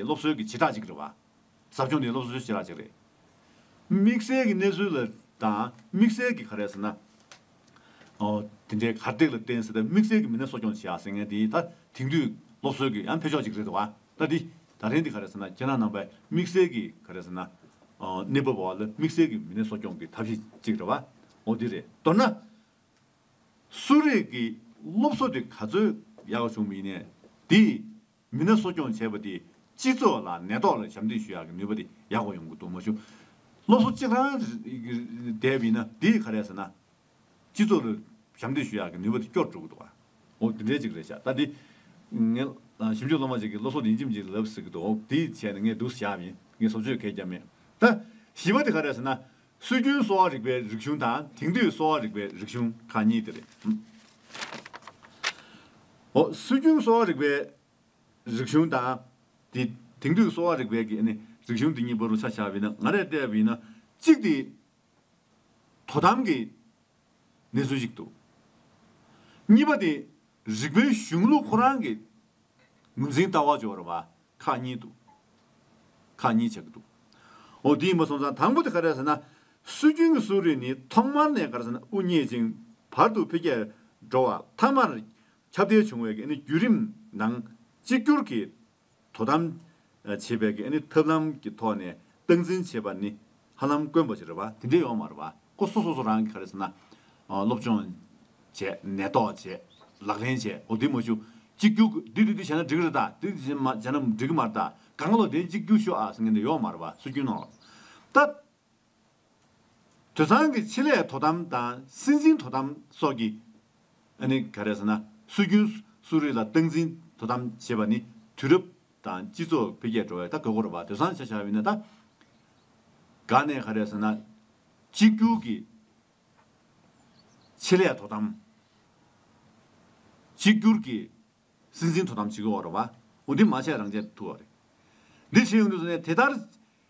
སློབ་གསོའི་གྱི་བྱེ་བྲག་ཅིག་རེད་བ། ཟབ་སྦྱོང་ནི་སློབ་གསོའི་བྱེ་བྲག་ཅིག་རེད། དམིགས་བསལ་གྱི་གནས་ཚུལ་ལ་དང་དམིགས་བསལ་གྱི་ག་རེ་ཟེར་ན། ཨོ། དེ་འདྲའི་གར་སྟེགས་ལ་བརྟེན་སེ་ད་དམིགས་བསལ་གྱི་མི་སྣ་གསོ་སྐྱོང་བྱེད་ཡག་ཟེར་མཁན་དེ་ད་དེང་དུས་སློབ་གསོའི་གྱི་ཡང་འཕེལ་ཕྱོགས་ཅིག་རེད་བ། ད་དེ་ད་རེན་དེ་ག་རེ་ཟེར་ན་རྒྱ་ནག་ནང་པའི་དམིགས་བསལ་གྱི་ག་རེ་ཟེར་ན། ཨོ། གནས་བབ་བ་ལ་དམིགས་བསལ་གྱི་མི་སྣའི་གསོ་སྐྱོང་གྱི་ཐབས་ཤེས་ཅིག་རེད་བ། ཨོ་དེ་རེད། མདོར་ན། གསོ་རིག་གི་སློབ་གསོ་དེ་ག་ཚོད་ཡག་བྱུང་མིན་ནས་དེ་མི་སྣ་གསོ་སྐྱོང་བྱས་པ་དེས་སྤྱི་ཚོགས་ལ་ནད་ཐོག་ལ་ཞབས་འདེགས་ཞུ་ཡག་གི་ནུས་པ་དེ་ཡག་པོ་ཡོང་གི་འདུག་མ་གཞུང་སློབ་གསོ་གཅིག་རང་བསྡད་པ་ཡིན་ན་དེས་ག་རེད་ཟེར་ན། སྤྱི་ཚོགས་ལ་ཞབས་འདེགས་ཞུ་ཡག་གི་ནུས་པ་དེ་སྐྱོར་འགྲོ་གི་འདུག་འོ་དེ་འདྲའི་ཅིག་རེད་ཤག་ད་དེ། ངའི་ཞིབ་འཇུག་སློབ་མ་ཅིག་གིས་སློབ་གསོ་ལྡན་ཁྱིམ་ཅིག་ལབ་ཟེར་གི་འདུག་དེ་བྱས་ནས་ངས་སྡུག་ས་ཞག་ཡིན་ངས་བཟོ་བཅོས་གས་རྒྱབ་མེད་ད། བཞི་བ་དེ་ག་རེད་ཟེར་ན། སྲོལ་རྒྱུན་གསོ་བ་རིག་པའི་རིག་གཞུང་དང་དེང་དུས་གསོ་བ་རིག་པའི་རིག་གཞུང་གང་གཉིས་དེ་རེད། སྲོལ་རྒྱུན་གསོ་བ་རིག་པའི་རིག་གཞུང་དང། དེང་དུས་གསོ་བ་རིག་པའི་རིག་གཞུང་འདི་གཉིས་པོ་རུ་ཆ་བཞག་པས་ན་ང་རེ་བལྟས་པས་ན་གཅིག་དེ་དོ་དམ་གྱི་གནས་ཚུལ་ཞིག་འདུག་གཉིས་པ་དེ་རིག་པའི་གཞུང་ལུགས་ཁོ་རང་གི་ངོས་འཛིན་ལྟ་བ་འཇོག་རེ་བ་ཁག་གཉིས་འདུག། ཁག་གཉིས་ཆགས་ཀྱི་འདུག། འོ་དེའི་མ་སོང་ཙང་དང་པོ་དེ་ག་རེད་ཟེར་ན། སྲོལ་རྒྱུན་གྱི་སུའུ་རིན་ནི་ཐོག་མར་ནས་ག་རེ་ཟེར་ན་དབུ་བརྙེས་ཅིང་བར་དུ་འཕེལ་རྒྱས་འགྲོ་བ་མཐའ་མར་ཁྱབ་བརྡལ་བྱུང་བའི་བརྒྱུད་རིམ་ནང་གཅིག་གྱུར་གྱིས་དོ་དམ་བྱེད་པའི་ཐབས་ལམ་གྱི་ཐོག་ནས་སྟངས་འཛིན་བྱེད་པ་ནི་ཧ་ལམ་དཀོན་པོ་ཅིག་རེད་བ། དེ་འདྲས་ཡོང་བ་མ་རེད་བ། ཁོ་སོ་སོ་སོ་རང་གིས་ག་རེ་ཟེར་ན། སློབ་སྦྱོང། བྱས། ནད་ཐོག་བྱས། ལག་ལེན་བྱས། འོ་དེ་མ་ཞུ། གཅིག་གྱུར་གྱི། འདི་འདི་འདི་བྱས་ན་འགྲིག་རེད་ད། འདི་འདི་བྱས་ན་འགྲིག་གི་མ་རེད་ད། ག་ང་ལོ་དེ་གཅིག་གྱུར་ཤོག་ཨ་ཟེར་མཁན་དེ་ཡོང་བ་མ་རེད་བ། སུ་སྐྱོན་གནང་རོགས། ད། དུད་ཚང་གི་ཆེད་ལས་དོ་དམ་དང་སྲིད་འཛིན་དོ་དམ་སོགས་ཀྱི། ཨ་ནི་ག་རེ་ཟེར་ན། སྲོལ་རྒྱུན་གསོ་རིག་ལ་སྟངས་འཛིན་དོ་དམ་བྱེད་པ་ནི་དུས་རབས། དང་སྤྱི་ཚོགས་འཕེལ་རྒྱས་འགྲོ་བའི་ད་གོས་བསྐོར་བ་དོད་སང་ཆ་ཆགས་ཡོད་ན་ད་ག་ནས་ག་རེད་ཟེར་ན། གཅིག་གྱུར་གྱི་ཆེད་ལས་དོ་དམ། གཅིག་གྱུར་གྱི་སྲིད་འཛིན་དོ་དམ་བྱེད་དགོས་བ་རེད་བ་འོ་འདི་མ་བྱས་རང་བྱས་ཐུ་བ་རེད་འདི་བྱེད་ཡོང་དུས་ཟེར་ནས་དེ་ལྟར་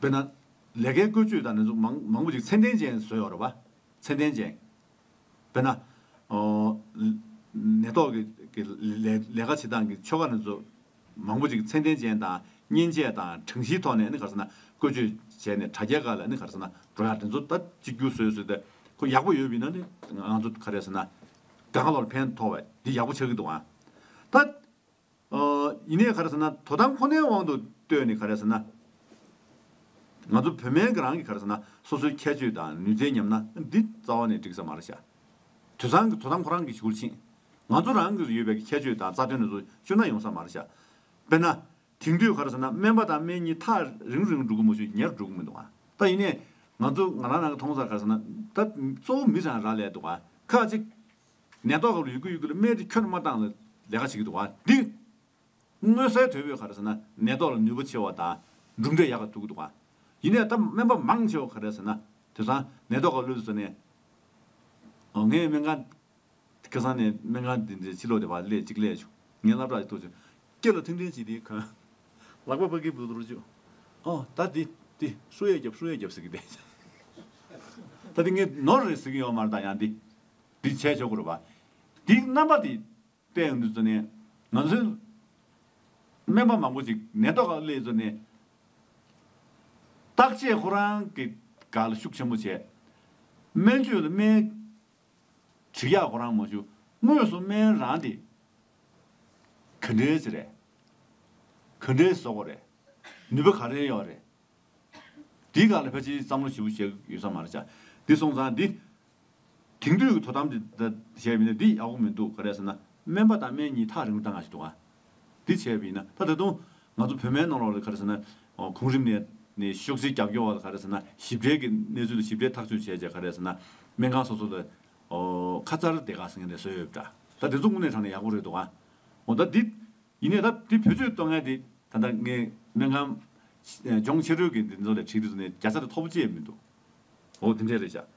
དཔེར་ན། ལས་ཀའི་བཀོལ་སྤྱོད་དང། མང་པོ་ཞིག་ཚད་ལྡན་ཅན་བཟོས་ཡོད་པ། ཚད་ལྡན་ཅན། དཔེར་ན། ནད་ཐོག་གི་ལས་ཀ་བྱེད་སྟངས་ཀྱི་ཆོ་ག། མང་པོ་ཞིག་ཚད་ལྡན་ཅན་དང་མཉེན་ཆས་དང་གྲངས་གཞིའི་ཐོག་ནས་བཀོལ་སྤྱོད་བྱས་ནས་དྲ་རྒྱ་ཁག་ལ་འགྲོ་ཡང་དྲ་ཚོ་ད་གཅིག་གྱུར་བཟོས་ཟོས་ཏེ། ཁོ་ཡག་པོ་ཡོད་མིན་ན་ནི། ང་ཚོ་ག་རེ་ཟེར་ན། དགའ་ལོར་ཕན་ཐོག་བས་འདི་ཡག་པོ་ཆགས་ཀྱི་འདུག་ཨང། ད། ཡིན་ནས་ག་རེ་ཟེར་ན་དོ་དམ་ཁོ་ནའི་དབང་དུ་གཏོད་ནས་ག་རེ་ཟེར་ན། ང་ཚོ་བོད་སྨན་གྱི་རང་གི་ག་རེ་ཟེར་ན་སོ་སོའི་ཁྱད་ཆོས་དང་ནུས་རྩལ་ཉམས་ན་འདི་རྩ་བ་ནས་འགྲིག་ས་མ་རེད་བྱ། དུད་ཚང་གི་དོ་དམ་ཁོ་རང་གིས་བྱེད་ཁུལ་ཕྱིན། ང་ཚོ་རང་གིས་ཡོད་པའི་ཁྱད་ཆོས་དང་རྩ་དོན་ནས་བཟུང་སྤྱོད་ན་ཡོང་ས་མ་རེད་བྱ། དཔེར་ན། དེང་དུས་ག་རེ་ཟེར་ན་སྨན་པ་དང་སྨན་གཉིས་ཐག་རིང་རིང་འགྲོ་གི་མ་ཤུ་ཉེར་འགྲོ་གི་མི་འདུག་ད་ཡིན་ནས་ང་ཚོ་ང་རང་རང་གིས་མཐོང་སར་ག་རེ་ཟེར་ན་ད་གཙོ་བོ་མི་ཚང་རག་ལས་འདུག་ཁག་ཅིག་ནད་ཐོག་ལ་ཡོད་ཀི་ཡོད་ཀི་ལ་སྨད་དེ་ཁྱོད་རྣམས་མ་བཏང་ལ་ལས་ཀ་བྱེད་ཀི་འདུག་བ་འདི། དངོས་གསལ་དོད་པོས་ག་རེ་ཟེར་ན་ནད་ཐོག་ལ་ནུས་པ་ཆེ་བ་དང་གྲུབ་འབྲས་ཡག་ག་ཐུག་གི་འདུག་བ། ཡིན་ནས་ད་སྨན་པ་མང་ཆེ་བ་ག་རེ་ཟེར་ན་དེ་སང་ནད་ཐོག་ག་ལུས་ཟེར་ནས། ཨོ་ངས་སྨན་ཁང། ཁེ་སང་ནས་སྨན་ཁང་དེ་འདྲའི་ཕྱི་ལོག་དེ་བ་སླད་ཅིག་སླད་བྱུང་ངས་སླ་བྲག་ཅིག་ཐོག་བྱུང། སྐེ་ལ་ཐིང་ཐིང་བྱས་དེའི་གོན། ལག་པ་པ་ཀི་བུ་དོར་བྱུང། ཨོ་ད་དེ་དེ་སུ་ཡས་རྒྱབ་སུ་ཡས་རྒྱབ་ཟེར་གི་བསྡད། ད་དེ་ངས་ནོར་རེད་ཟེར་གི་ཡོད་མ་རེད་ད་ཡང་དེ། འདི་བྱས་ཆོག་གི་རེད་བ། དེའི་རྣམ་པ་དེ་བལྟས་ཡོང་དུས་ཚོད་ནས། ང་ཚོའི་སྨན་པ་མང་པོ་ཞིག་ནད་ཐོག་ལ་སླེབས་ཚོད་ནས། བརྟག་དཔྱད་ཁོ་རང་གི་དགའ་ལ་ཤུགས་ཆེན་པོ་བྱས། སྨན་བཅོས་ལ་སྨན། བྱི་གཡག་ཁོ་རང་མ་ཞུ། དངོས་སུ་སྨན་རང་དེ། ག་འདྲའི་ཆེ་རེད། ག་འདྲའི་བཟོ་གོ་རེད། ནུས་པ་ག་རེ་ཡོད་རེད། དེའི་སྐར་ལ་ཕལ་ཆེར་བསམ་བློ་ཞིབ་པོ་བྱས་ཡོད་ས་མ་རེད། ཆ་འདི་སོང་ཙང་འདི། དེང་དུས་ཀྱི་དོ་དམ་བྱས་པས་ན་འདི་ཡག་པོ་མི་འདུག་ག་རེད་ཟེར་ན་སྨན་པ་དང་སྨན་གཉིས་ཐག་རིང་པོ་གཏང་ག་ཞིག་འདུག་ག་འདི་བྱས་པས་ན་ད་ད་དུང་ང་ཚོ་བོད་མའི་ནང་ལོགས་ལ་ག་རེ་ཟེར་ན་གོང་རིམ་ནས་ནས་ཤོག་སེར་རྒྱབ་སྐྱོར་བ་ལ་ག་རེ་ཟེར་ན་ཞིབ་ཕྲའི་གི་གནས་ཚུལ་ལ་ཞིབ་ཕྲའི་ཐག་གཅོད་བྱས་བྱས་ག་རེ་ཟེར་ན་སྨན་ཁང་སོ་སོ་ལ་ཁ་མཚར་བདེ་ག་ཟེར་མཁན་རེ་བཟོས་ཡོད་པ་འདྲ་ད་དེ་ཚོ་དངོས་གནས་དྲང་ནས་ཡག་པོ་རེད་འདུག་ག་འོ་ད་འདི་ཡིན་ནས་ད་འདི་བོད་ཆོས་དོན་ལྔའི་འདི་ད་ལྟ་ངས་སྨན་ཁང་ལྗོངས་ཕྱི་རོལ་གྱི་འདི་ཚོ་ལ་ཁྲིད་དུས་ཚོ་ནས་རྒྱ་ཚ་རེ་ཐོབ་པོ་ཅི་ཡང་མི་འདུག་འོ་འདི་འདྲས་རེད་བཞག།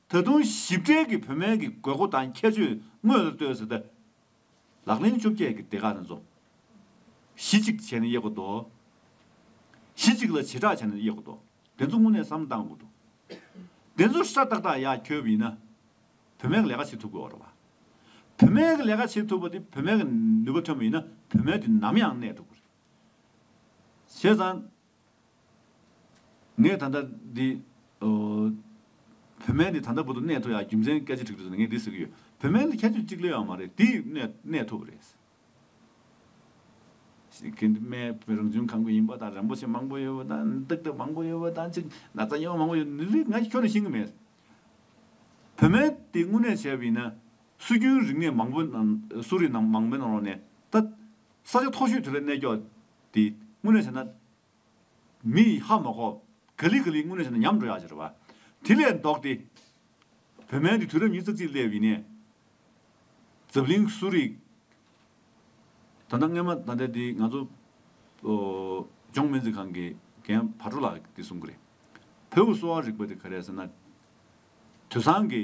ད་དུང་ཞིབ་ཕྲའི་གི་བོད་སྨན་གི་དགོས་མཁོ་དང་ཁྱད་ཆོས་དངོས་ལ་ལྟོས་ཟེར་ད། ལག་ལེན་བཅོ་བརྒྱད་གི་སྡེ་ཁག་ནས་རྫོགས། གཞི་གཅིག་བྱས་ནས་དབྱེ་དགོས་འདུག། གཞི་གཅིག་ལ་བྱེ་བྲག་བྱས་ནས་དབྱེ་དགོས་འདུག་དེ་ཚོ་སྔོན་ནས་བསམ་བཏང་དགོས་འདུག། དེ་ཚོ་ཧྲ་ཏག་ཏག་ཡག་ཁྱོད་ཡིན་ན། བོད་སྨན་གི་ལས་ཀ་བྱེད་ཐུབ་དགོས་བ་རེད་བ། བོད་སྨན་གི་ལས་ཀ་བྱེད་ཐུབ་པ་དེ་བོད་སྨན་གི་ནུས་པ་ཐོན་པ་ཡིན་ན་བོད་སྨན་དེ་ནམ་ཡང་གནས་ཐུབ་དགོས་རེད། བྱས་ཙང། ངས་ད་ལྟ་འདི། བུད་མེད་འདི་ད་ལྟ་བུ་དང་གནས་ཐུབ་ཡ་རྒྱུ་མཚན་སྐད་ཆ་དྲིས་དུས་ངས་འདི་ཟེར་གྱི་ཡོད། བུད་མེད་ལ་ཁྱད་ཆོས་གཅིག་ལོས་ཡང་མ་རེད་དེས་གནས་ཐུབ་རེད། ཁེ་འདི་སྨད་བོད་རང་བྱུང་ཁམས་ཀྱི་ཡིན་པ་དང་རིན་པོ་ཆེ་མང་པོ་ཡོད་པ་དང་སྟག་སྟབས་མང་པོ་ཡོད་པ་དང་ཅིག་ན་ཚ་ཡོད་མང་པོ་ཡོད་འདི་རིགས་ང་ཁྱོད་ལ་ཤེས་ཀྱི་མེད། བུད་མེད་དེ་དངོས་གནས་བྱས་པ་ཡིན་ན་སྲོལ་རྒྱུན་རིག་གནས་མང་པོ་ནང་གསོ་རིག་ནང་མང་པོའི་ནང་ནས་ད་ས་ཆ་མཐོ་ཤོས་དེ་ལ་གནས་སྐྱོ་དེ། དངོས་གནས་བྱས་ན། མི་ཡིས་ཧ་མ་གོ། ག་ལི་ག་ལི་དངོས་གནས་བྱས་ན་ཉམས་འགྲོ་ཡག་ཅེས་རེད་བ། དེ་ལས་ལྡོག་སྟེ། བོད་སྨན་འདི་དུས་རབས་ཉིས་བརྩེགས་གཅིག་སླེབས་ཡིན་ནས། འཛམ་གླིང་གསོ་རིག། ད་ལྟ་སྔས་མ་ད་ལྟའི་དེ་ང་ཚོ། ལྗོངས་སྨན་རྩིས་ཁང་གི་རྒན་བ་དྲུག་ལགས་ཀྱིས་དེ་གསུངས་ཀྱི་རེད། བོད་དབུས་གསོ་བ་རིག་པ་དེ་ག་རེད་ཟེར་ན། དུས་བཟང་གི།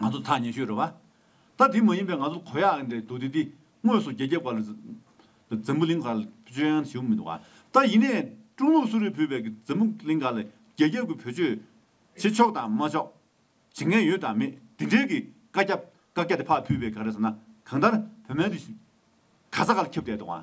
ང་ཚོ་ཐག་ཉེ་ཤོས་རེད་བ། ད་དེ་མ་ཡིན་པའི་ང་ཚོར་གོ་ཡག་རེད་འདུག་དེ་དེ་དངོས་སུ་རྒྱ་ཁྱབ་ག་ལ་འཛམ་བུ་གླིང་ག་ལ་སྤྱོད་ཡང་བྱེད་མི་འདུག་བ། ད་ཡིན་ནས་ཀྲུང་ལུགས་སུ་རེད་བུད་པའི་འཛམ་བུ་གླིང་ག་ལ་རྒྱ་ཁྱབ་ཀྱི་བུ་སྤྱོད་བྱེད་ཆོག་དང་མ་ཆོག་བྱེད་མཁན་ཡོད་དང་མེད་དེ་འདྲའི་གི་བཀའ་རྒྱ་བཀའ་རྒྱ་དེ་ཕ་བུད་པའི་ག་རེ་ཟེར་ན་གང་ལྟར་བོད་སྨན་དེ་ག་ས་ག་ལ་ཁྱབ་བསྡད་འདུག་བ།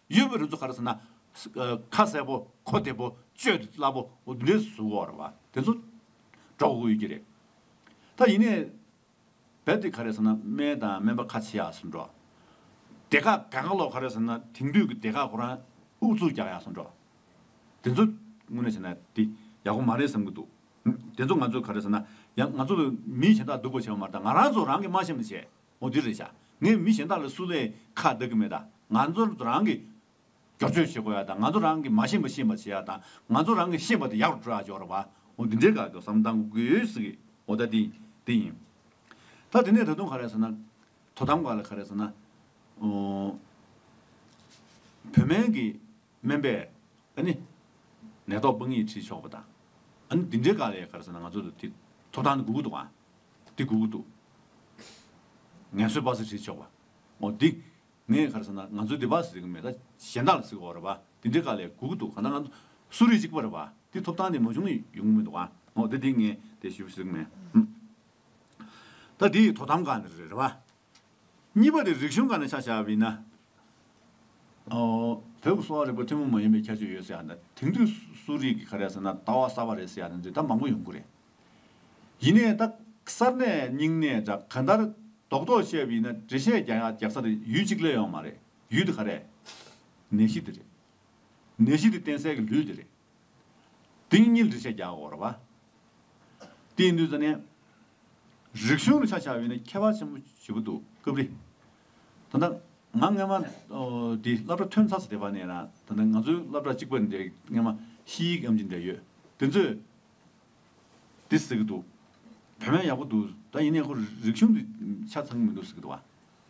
གཡོ་བའི་རི་ཚོགས་གར་ཟེར་ན། ཁ་གསལ་པོ་གོ་བདེ་པོ་སྤྱོད་དེ་སླ་པོ་འདི་གཟུ་བོར་བ་དེ་ཚོ་འགྲོ་དགོས་ཡོད་ཀྱི་རེད། ད་ཡིན་ནའི་བལ་དེ་ག་རེད་ཟེར་ན་སྨན་དང་སྨན་པ་ཁ་ཆེ་ཡག་སུ་འགྲོ། དེ་ག་ག་ག་ལོག་ག་རེད་ཟེར་ན་དེང་དུས་ཀྱི་དེ་ག་ཁོ་རང་ཨུ་ཚུགས་རྒྱག་ཡག་སུ་འགྲོ། དེ་ཚོ་དངོས་གནས་བྱས་ན་དེ་ཡག་པོ་མ་རེད་བསམ་གྱི་འདུག་དེ་ཚོ་ང་ཚོ་ག་རེད་ཟེར་ན་ཡང་ང་ཚོ་ལ་མི་གཞན་དག་སྡུག་པོ་བྱས་པ་མ་རེད་ད་ང་རང་ཚོ་རང་གི་དམའ་ཞེན་མ་བྱས། མོ་འདི་རེད་བྱ། ངས་མི་གཞན་དག་ལ་སུ་ལས་ཁ་བརྡ་གི་མེད་ད། ང་ཚོ་རང་གིས་སྒྱུར་བཅོས་བྱེད་དགོས་ཡ་ད་ང་ཚོ་རང་གིས་མ་ཤེས་པ་ཤེས་པ་བྱེད་ཡ་ད་ང་ཚོ་རང་གིས་ཤེས་པ་དེ་ཡག་པོ་སྤྲོད་ཡ་འཇོག་ར་བ་འོ་འདི་འདྲའི་ག་གི་བསམ་སྟངས་གུ་གུའི་ཟིག་གི་འོ་ད་དེ་དེ་ཡིན། ད་དེ་ནས་ད་དུང་ག་རེད་ཟེར་ན། དོ་དམ་ག་ལ་ག་རེད་ཟེར་ན། བོད་སྨན་གི། སྨན་པས། ཨ་ནི། ནད་ཐོག་དཔང་ཡིག་བྲིས་ཆོག་པ་དང། ཨ་ནི་འདི་འདྲའི་དགག་ལས་གར་ཟེར་ན་ང་ཚོ་དེ་ཐོབ་ཐང་དེ་དགོས་ཀྱི་འདུག་ཨང། དེ་དགོས་ཀྱི་འདུག། ངལ་གསོའི་དཔག་ཚད་བྲིས་ཆོག་པ། ཨོ་དེ། ངས་གར་ཟེར་ན་ང་ཚོའི་དེ་དཔག་ཟེར་གྱི་མེད་ད་གཞན་དག་ལ་ཟེར་གོ་རེད་པ། དེ་འདྲའི་དགག་ལས་དགོས་ཀྱི་འདུག་གང་ལྟར་ང་ཚོ་གསོ་རིག་གཅིག་པ་རེད་པ། དེ་ཐོབ་ཐང་དེ་མ་བྱུང་ན་ཡོང་གི་མི་འདུག་ཨང། ཨོ་དེ་དེ་ངས་དེ་ཞུ་ཟེར་གྱི་མེད། ད་དེ་ཡི་དོ་དམ་གང་འདྲ་རེད་རེད་པ། གཉིས་པ་རེ་རིག་གཞུང་གང་ནས་ཆ་བཞག་བས་ན། བོད་ཀྱི་གསོ་བ་རིག་པ་ཐུན་མོང་མ་ཡིན་པའི་ཁྱད་ཆོས་ཡོད་ཟེར་ཡང་དེང་དུས་སུ་རིགས་ཀྱི་ག་རེ་ཟེར་ན་ལྟ་བ་གསར་བ་རེད་ཟེར་ཡང་འདི་ད་མང་པོ་ཡོང་གི་རེད། ཡིན་ནས་ད་གསར་ནས་རྙིང་ནས་འདྲ་ག་ལྟར་རྡོག་རྡོག་བཤད་བས་ན་འགྲེལ་བཤད་རྒྱག་ཡག་རྒྱག་ས་དེ་ཡུལ་གཅིག་ལས་ཡོང་མ་རེད་ཡུལ་དེ་ག་རེད། ནད་གཞི་དེ་རེད། ནད་གཞི་དེ་བསྟེན་སའི་གི་ལུས་དེ་རེད། དེང་ཉིད་འདྲི་བྱེད་རྒྱ་གོར་བ། དེའི་མདུན་ས་ནས། རིག་གཞུང་རུ་ཆ་བྱ་བའི་ནི་ཁྱད་པར་ཆེན་པོ་བཞི་པོ་འདུག་སྐབས་རེ། ད་ལྟ། ང་སྔན་མ། དེ་བསླབ་གྲྭ་ཐོན་ཚར་ས་དེ་བར་ནས་རང་ད་ལྟ་ང་ཚོའི་བསླབ་གྲྭ་གཅིག་པ་འདི་སྔན་མ་ཤི་ཡིག་ཨམ་གྱི་འདྲེ་ཡོད་དེ་ཚོས། འདི་ཟེར་གྱི་འདུག་བོད་སྨན་ཡག་པོ་འདུག་ད་ཡིན་ནས་ཁོ་རིག་གཞུང་འདི་ཆ་ཚང་གི་མི་འདུག་ཟེར་གྱི་འདུག་བ།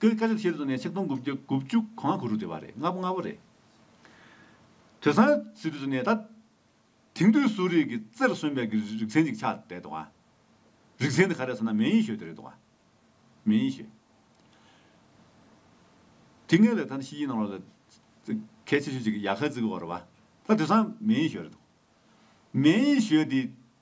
ཀྱི་སྐད་ཆ་དེ་ཤེས་རྟོགས་ནས་ཆིག་སྟོང་དགུ་བཅུ་གོ་ལྔ་གོ་དྲུག་བྲིས་པ་རེད་ལྔ་པོ་ལྔ་པོ་རེད། དོན་སང་ཟིག་དུས་སུ་ནས་ད་དེང་དུས་སུ་རིགས་ཀྱི་རྩེར་སོན་པའི་ཀྱི་རིག་ཚན་ཅིག་ཆགས་བསྡད་འདུག་ཨ། རིག་ཚན་དེ་ག་རེད་ཟེར་ན་མེན་ཡིན་ཞོས་དེ་རེད་འདུག་ཨ། མེན་ཡིན་ཞོས། དེ་སྔའི་ལས་ཐཱན་ཤི་ཡིན་ནང་ལོ་ལ་གལ་ཆེ་ཤོས་ཅིག་ཡ་ཁ་ཛི་གི་བོ་ར་བ། ད་དོན་སང་མེན་ཡིན་ཞོས་རེད་འདུག། མེན་ཡིན་ཞོས་དེ་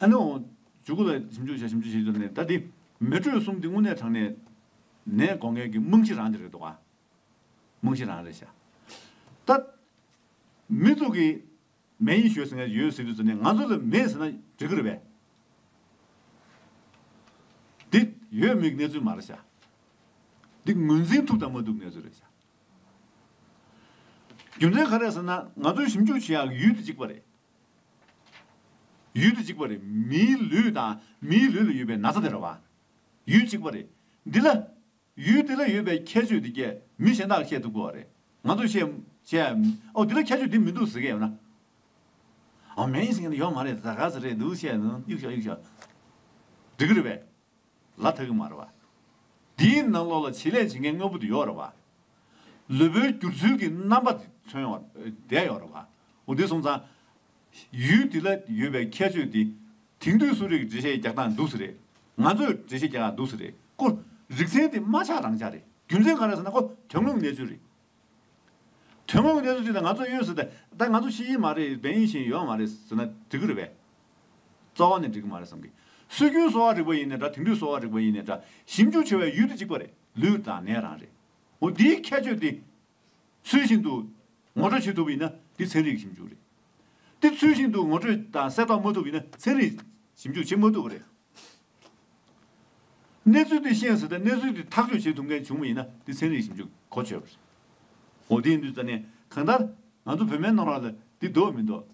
ཨ་ནུའོ། འཇུག་གུ་ལ་ཞིབ་འཇུག་བྱ་ཞིབ་འཇུག་བྱེད་ཀྱི་འདུག་ནས་ད་དེ། མེ་དྲོད་གསུམ་དེ་དངོས་གནས་དྲང་གནས། ནས་སྒོ་ངའི་གི་རྨང་གཞི་རང་དེ་རེད་འདུག་ག། རྨང་གཞི་རང་རེད་བྱ། ད། མི་ཚོགས་ཀྱི། མེ་ཡིན་ཞོད་ཟེར་ནས་ཡོད་ཟེར་དུས་ཚོད་ནས་ང་ཚོ་ལ་མེད་ཟེར་ན་འགྲིག་གི་རེད་པས། འདི། ཡོད་མེད་ཀྱི་གནས་ཚུལ་མ་རེད་བྱ། འདི་ངོས་འཛིན་ཐུབ་དང་མ་ཐུབ་ཀྱི་གནས་ཚུལ་རེད་བྱ། རྒྱུ་མཚན་ག་རེད་ཟེར་ན་ང་ཚོའི་ཞིབ་འཇུག་བྱེད་ཡག་གི་ཡུལ་དེ་གཅིག་པ་རེད། ཡུལ་འདི་གཅིག་པ་རེད་མིའི་ལུས་དང་མིའི་ལུས་ལ་ཡོད་པའི་ན་ཚ་དེ་ར་བ། ཡུལ་གཅིག་པ་རེད་འདི་ལ། ཡུལ་འདི་ལ་ཡོད་པའི་ཁྱད་ཆོས་འདི་སྐད་མི་གཞན་དག་བཤད་ཐུབ་གི་བ་རེད་ང་ཚོས་བཤད། ཨོ་འདི་ལ་ཁྱད་ཆོས་འདི་མི་འདུག་ཟེར་གི་ཡོད་ན། ཨོ་མེ་ཡིན་ཟེར་གི་ཡོད་མ་རེད་ད་ག་ཟེ་རེད་འདུག་བཤད་འདུག་གཡུག་ཤོག་གཡུག་ཤོག། འགྲིག་གི་རེད་པས། ལ་དྭགས་ཀྱི་མ་རེད་པ། འདིའི་ནང་ལོགས་ལ་བྱེད་ལས་བྱེད་མཁན་དངོས་པོ་དེ་ཡོད་རེད་པ། ལུས་པོའི་བསྒྱུར་ཚུལ་གྱི་རྣམ་པ་དེ་མཚོན་ཡོད་བསྡད་ཡོད་རེད་པ། འོ་དེ་སོང་ཙང། ཡུལ་དེ་ལ་ཡོད་པའི་ཁྱད་ཆོས་དེ། དེང་དུས་སུ་རིགས་འགྲེ་བཤད་རྒྱག་སྟངས་འདུག་ཟེར་རེད། ང་ཚོས་འགྲེ་བཤད་རྒྱག་ཡག་འདུག་ཟེར་རེད། ཀོ། རིག་ཚན་དེ་མ་ཆགས་རང་ཆགས་རེད། རྒྱུ་མཚན་ག་རེད་ཟེར་ན་ཀོ། དོན་དངོས་གནས་ཚུལ་རེད། ཐུན་མོང་གི་གནས་ཚུལ་ཅིག་ལ་ང་ཚོས་གཡོལ་ཟེར་ཏེ། ད་ང་ཚོ་ཤེས་ཀྱི་མ་རེད་བན་ཡིན་ཞིང་ཡོད་ཡང་མ་རེད་ཟེར་ན་འགྲིག་གི་རེད་པས། རྩ་བ་ནས་འགྲིག་གི་མ་རེད་བསམ་གི། སྲོལ་རྒྱུན་གསོ་བ་རིག་པ་ཡིན་ནས་འདྲ་དེང་དུས་གསོ་བ་རིག་པ་ཡིན་ནས་འདྲ། ཞིབ་འཇུག་བྱེད་པའི་ཡུལ་དེ་གཅིག་པ་རེད་ལུས་དང་ནད་རང་རེད། འོ་འདིའི་ཁྱད་ཆོས་དེ། ཚུལ་བཞིན་དུ། ངོ་སྤྲོད་བྱེད་ཐུབ་ཡིན་ན་འདི་ཚན་རིག་གི་ཞིབ་འཇུག་རེད་དེ། ཚུལ་བཞིན་དུ་ངོ་སྤྲོད་དང་གསལ་རྟོགས་མ་ཐུབ་ཡིན་ན་ཚན་རིག་ཞིབ་འཇུག་བྱེད་མ་ཐུབ་པ་རེད། གནས་ཚུལ་དེ་ཤེས་ཟིན་དང་གནས་ཚུལ་དེ་ཐག་གཅོད་བྱེད་ཐུབ་མཁན་བྱུང་བ་ཡིན་ན་དེ་ཚན་རིག་ཞིབ་འཇུག་གོ་ཆོད་པ་རེད། འོ་དེ་ཡིན་དུས་ད་ནས་གང་ལྟར་ང་ཚོ་བོད་མའི་གནང་རག་ལ་དེ་འདོད་མི་འདོད།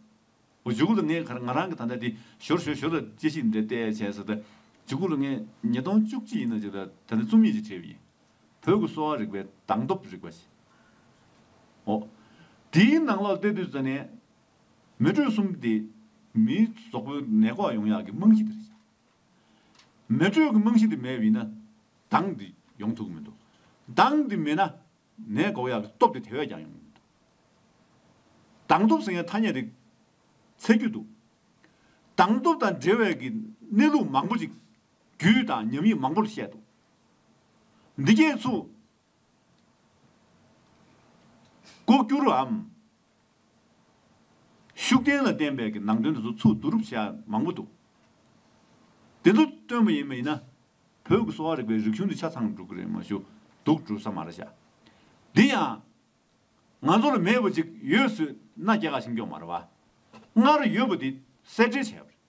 འོ་ཇུ་གུ་ལ་ངས་ཁར་ང་རང་གི་ད་ལྟ་དེ་ཞོར་ཞོར་ཞོར་ལ་དཔྱད་ཞིབ་འདི་འདྲ་བལྟས་བྱས་ཟེར་ད་ཇུ་གུ་ལ་ངས་ཉིས་སྟོང་བཅུ་གཅིག་ཡིན་ན་ཅིག་ལ་ད་ལྟ་རྩོམ་ཡིག་ཅིག་བྲིས་པ་ཡིན། བོད་ཀྱི་གསོ་བ་རིག་པའི་དང་སྟོབས་རིག་པ་ཞེས། འོ། དེའི་ནང་ལོགས་བལྟས་དུས་ད་ནས། མེ་དྲོད་གསུམ་སྟེ། མིའི་ཟོག་པོའི་ནད་འགོག་ཡོང་ཡག་གི་རྨང་གཞི་དེར་བཞག། མེ་དྲོད་ཀྱི་རྨང་གཞི་དེ་མེད་པའི་ན་དང་དེ་ཡོང་ཐུབ་ཀྱི་མི་འདུག་དང་དེ་མེད་ན་ནད་འགོག་ཡག་གི་སྟོབས་དེ་དེ་བས་ཀྱང་ཡོང་གི་མི་འདུག་དང་སྟོབས་ཟེར་ཡང་ཐ་སྙད་རིགས་ཚད་རྒྱུ་འདུག་དང་སྟོབས་དང་འབྲེལ་བའི་གི་གནས་ལུགས་མང་པོ་ཅིག་རྒྱུད་དང་ཉམས་ཡིག་མང་པོ་ལ་བཤད་འདུག་འདི་རྒྱས་ཚུགས། ལྐོག་གྱུར་འམ། ཤུགས་བསྟན་ལ་བརྟེན་པའི་གི་ནང་དོན་དེ་ཚོ་ཚུར་བསྡུ་རུབ་བྱས་ཡ་མང་པོ་འདུག། དེ་ཚོ་སྟོན་པ་ཡིན་མ་ཡིན་ན། བོད་ཀྱི་གསོ་བ་རིག་པའི་རིག་གཞུང་འདི་ཆ་ཚང་འགྲུག་གི་རེད་མ་ཞུ། འདུག་འགྲུབ་ས་མ་རེད་བྱ། འདི་ཡང། ང་ཚོ་ལ་མེད་པ་ཅིག་ཡོད་སུས་ན་རྒྱ་གར་ཞིང་སྐྱོང་མ་རེད་བ། སྔར་ཡོད་པ་འདི་གསལ་འགྲེལ་བྱས་པ་རེད།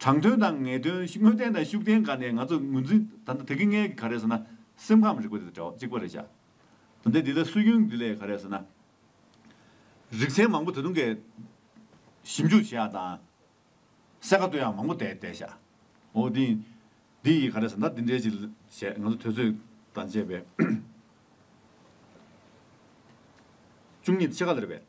དྲང་དོན་དང་ངེས་དོན་དངོས་བསྟན་དང་ཤུགས་བསྟན་ག་ནས་ང་ཚོ་ངོས་འཛིན་ད་ལྟ་དེ་གི་ངལ་གི་ག་རེད་ཟེར་ན་སེམས་ཁམས་རིག་པ་དེ་དང་གཅིག་པ་རེད་བྱ། ད་ལྟའི་འདི་ལ་སུས་སྐྱོན་གི་ལས་ག་རེད་ཟེར་ན། རིག་ཚན་མང་པོ་ད་དུང་གི་ཞིབ་འཇུག་བྱེད་ཡག་དང། གསལ་ཁ་གཏོད་ཡག་མང་པོ་བསྡད་བསྡད་བྱ། འོ་དེ་འདི་ཡི་ག་རེད་ཟེར་ན་འདི་འདྲའི་ཅིག་བྱས་ང་ཚོ་དུས་ཚོད་དང་བཅས་པས། བཅུ་གཉིས་ཕྱེད་ཀ་ལེར་བས།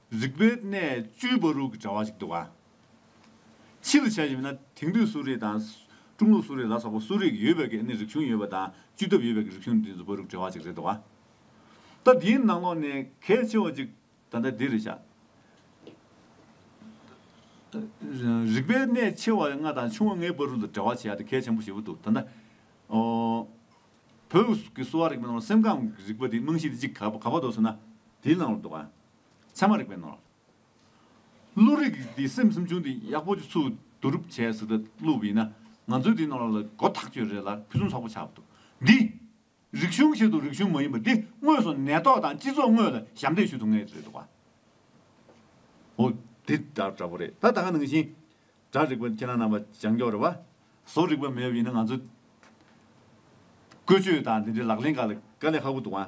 རིག་པའི་གནས་བཅུའི་བ་རུ་གི་དྲ་བ་ཞིག་འདུག་ཨ། ཕྱིས་ལ་བྱ་ཞིག་མིན་ན་དེང་དུས་གསོ་རིག་དང། ཀྲུང་ལུགས་གསོ་རིག་ལ་སོགས་པ་གསོ་རིག་ཡོད་པའི་གི་ནི་རིག་གཞུང་ཡོད་པ་དང་བཅུད་ཐབས་ཡོད་པའི་གི་རིག་གཞུང་འདི་ཚོ་བ་རུ་གི་དྲ་བ་ཞིག་རེད་འདུག་ཨ། ད་འདིའི་ནང་ལོགས་ནས་གལ་ཆེ་བ་ཅིག་ད་ལྟ་འདི་རེད་བྱ། རིག་པའི་གནས་ཆེ་བ་ལྔ་དང་ཆུང་བ་ལྔའི་བ་རུ་ལ་དྲ་བ་བྱེད་ཡ་དེ་གལ་ཆེན་པོ་ཞེ་པོ་འདུག་ད་ལྟ། བོད་ཀྱི་གསོ་བ་རིག་པའི་ནང་ལོགས་སེམས་ཁམས་གི་རིག་པ་དེའི་རྨང་གཞི་དེ་གཅིག་ག་བ་འདོགས་ཟེར་ན་དེའི་ནང་ལོགས་འདུག་ཨ། ཚད་མ་རིག་པའི་ནོར། བློ་རིག་འདི་སེམས་སེམས་བྱུང་འདི་ཡག་པོ་ཆུ་ཚུད་བསྡུ་རུབ་བྱས་ཟིན་ད་ལུགས་ཡིན་ན་ང་ཚོའི་འདི་ནོར་ལ་སྒོ་ཐག་གཅོད་རེད་ལ་ཕུན་སུམ་ཚོགས་པོ་ཆགས་པ་འདུག་འདི། རིག་གཞུང་ཞིག་འདུག་རིག་གཞུང་མ་ཡིན་པ་འདི་དངོས་སུ་ནད་ཐོག་དང་སྤྱི་ཚོགས་དངོས་ལ་ཞབས་འདེགས་ཞུ་ཐུབ་ངེས་རེད་འདུག་བ། འོ། འདི་དག་འདྲ་པོ་རེད་ད་ད་ག་ནང་བཞིན། སྒྲ་རིག་པ་ཁྱེད་རང་རྣམ་པ་ཅང་མགྱོགས་རེད་བ། བཟོ་རིག་པ་མེད་པ་ཡིན་ན་ང་ཚོའི། བཀོལ་སྤྱོད་དང་འདི་འདྲའི་ལག་ལེན་འགའ་ལ་དཀའ་ལས་ཧ་གོ་འདུག་བ།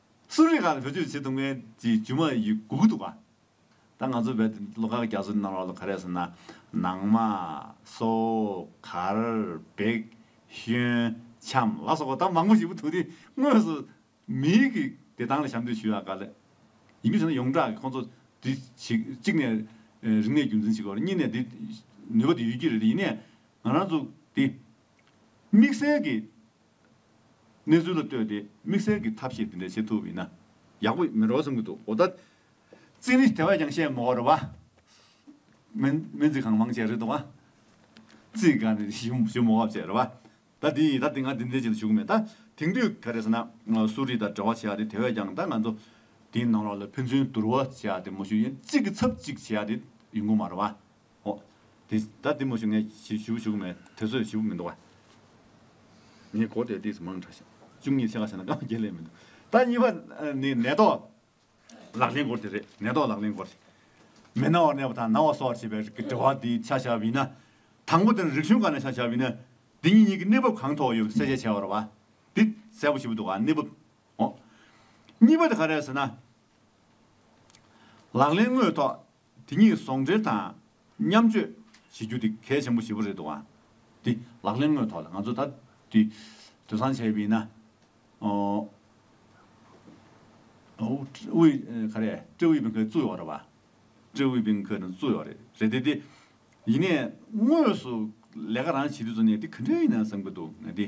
གསོ་རིག་ཁག་ལ་བེད་སྤྱོད་བྱེད་ཐུབ་མཁན་གྱི་རྒྱུ་མ་ཡི་གུ་གུ་འདུག་ག་ད་ང་ཚོ་བལ་ལོ་ཁག་རྒྱ་མཚོ་ནི་ནང་རོགས་ལོ་ག་རེད་ཟེར་ན། ནང་མ། སོ། གར། བེག། ཤོན། འཆམ་ལ་སོགས་པ་ད་མང་པོ་ཞིག་པོ་ཐུག་དེ་དངོས་སུ་མི་ཡི་གི་བདེ་ཐང་ལ་ཞབས་འདེགས་ཞུ་ཡག་ག་ལེ། ཡིན་མི་ཟེར་ན་ཡོངས་གྲགས་ཀྱི་ཁོང་ཚོ་དེ་ཞིག་གཅིག་ནས་རིག་གནས་རྒྱུན་འཛིན་བྱེད་དགོས་རེད་གཉིས་ནས་དེ་ནུས་པ་དེ་ཡོད་ཀྱི་རེད་དེ་ཡིན་ནས་ང་རང་ཚོ་དེ་དམིགས་བསལ་གྱི་གནས་ཚུལ་ལ་ལྟོས་ཏེ་དམིགས་བསལ་གྱི་ཐབས་ཤེས་དེ་འདྲ་བྱེད་ཐུབ་ཡིན་ན་ཡག་པོ་མིན་རོགས་བསམ་གྱི་འདུག་འོ་ད། རྩིས་རིས་དེ་བས་ཀྱང་བཤད་མི་འོར་བ། སྨན་རྩིས་གང་མང་བྱས་རེད་འདུག། རྩིས་ག་ནས་ཞུ་མི་འོར་བ་བྱས་རེད་བ། ད་དེ་ཡིན་ད་དེ་ང་དེ་འདྲའི་བྱེད་དུ་ཞུགས་མེད་ད། དེང་དུས་ག་རེ་ཟེར་ན་གསོ་རིག་དང་འབྲེལ་བ་བྱེད་ཡག་དེ་དེ་བས་ཀྱང་ད་ང་ཚོ་དེའི་ནང་རོགས་ལ་ཕན་ཚུན་བསྡུར་བ་བྱེད་ཡག་དེ་མ་ཞུ་ཡིན་གཅིག་གི་ཚབ་གཅིག་བྱེད་ཡག་དེ་ཡིན་གོ་མ་རེད་བ། ཨོ། དེ་ད་དེ་མ་ཞུ་ངས་ཞུ་ཞུ་གི་མེད་དེ་ཚོས་ཞུ་གི་མི་འདུག་བ། ངས་གོ་བདེ་བདེ་སུ་མང་དྲགས་ཤིང། བཅུ་གཉིས་ཕྱེད་ཀ་བྱས་ན་སྐར་མ་བརྒྱད་ལས་མི་འདུག་ད་གཉིས་པ་ནི་ནད་ཐོག་ལག་ལེན་སྐོར་དེ་རེད་ནད་ཐོག་ལག་ལེན་སྐོར། མི་ན་བར་ནད་པ་དང་ན་བ་གསོ་བར་བྱེད་པའི་རིགས་ཀྱི་དྲི་བ་འདིའི་ཆ་ཞག་བིས་ན། དང་པོ་དེ་ནི་རིག་གཞུང་གང་ནས་ཆ་ཞག་བིས་ན། འདི་གཉིས་གཉིས་ཀྱི་གནས་བབ་གང་ཐོག་ཡོད་པ་གསལ་བཤད་བྱས་བར་བ། འདི་གསལ་པོ་ཞིག་བུ་འདུག་བ་གནས་བབ། ཨོ། གཉིས་པ་དེ་ག་རེད་ཟེར་ན། ལག་ལེན་དངོས་ཐོག། དེ་གཉིས་ཟོང་འབྲེལ་དང་མཉམ་སྤྱོད་བྱེད་རྒྱུ་དེ་གལ་ཆེན་པོ་ཞེ་པོ་རེད་འདུག་ཨང། དེ་ལག་ལེན་དངོས་ཐོག་ལ་ང་ཚོ་ད་དུས་དུས་སང་བྱས་པ་ཡིན་ན། ཨོའུ། ག་རེ། ཀྲེ་ཝུའེ་པིང་ཁེ་བཙུགས་ཡོད་རེད་བ། ཀྲེ་ཝུའེ་པིང་ཁེ་ནི་བཙུགས་ཡོད་རེད་རེད་དེ་དེ། ཡིན་ནས་དངོས་སུ་ལས་ཀ་རང་བྱེད་དུས་ཚོད་ནས་དེ་ག་འདྲ་ཡིན་ནམ་བསམ་གྱི་འདུག་ང་དེ།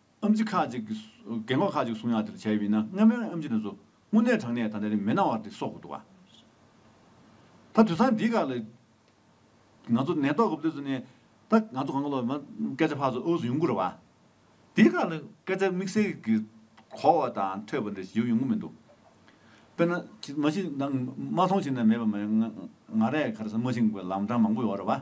ཨམ་ཆི་ཁ་ཅིག་གིས་གལ་འགོག་ཁ་ཅིག་གསུང་ཡང་དེ་ལ་བྱ་ཡི་མིན་ན་སྔ་མོའི་ཨམ་ཆི་ནས་བཟུང་དངོས་གནས་དྲང་གནས་ད་ལྟའི་རིང་མི་སྣང་བར་དེ་གསོག་དགོས་འདུག་ད་དུས་སང་འདིའི་སྐབས་ལ་ང་ཚོ་ནད་ཐོག་གི་བདུད་རྩི་ནི་ད་ང་ཚོ་གང་གི་ལོ་མ་སྐད་ཆ་ཕར་ཚུར་ཨུ་ཚུགས་ཡོང་གི་རེད་བ། འདིའི་སྐབས་ལ་སྐད་ཆ་དམིགས་བསལ་གྱི་གོ་བ་དང་ཐོས་པ་འདྲ་ཞིག་ཡོང་ཡོང་གི་མི་འདུག་དཔེར་ན་མ་གཞི་མ་མཐོང་ཆེ་ན་མེད་པ་མ་ཡིན་ང་རས་ག་རེ་ཟ་མ་ཤིང་གི་ལམ་འཕྲང་མང་པོ་ཡོད་རེད་བ།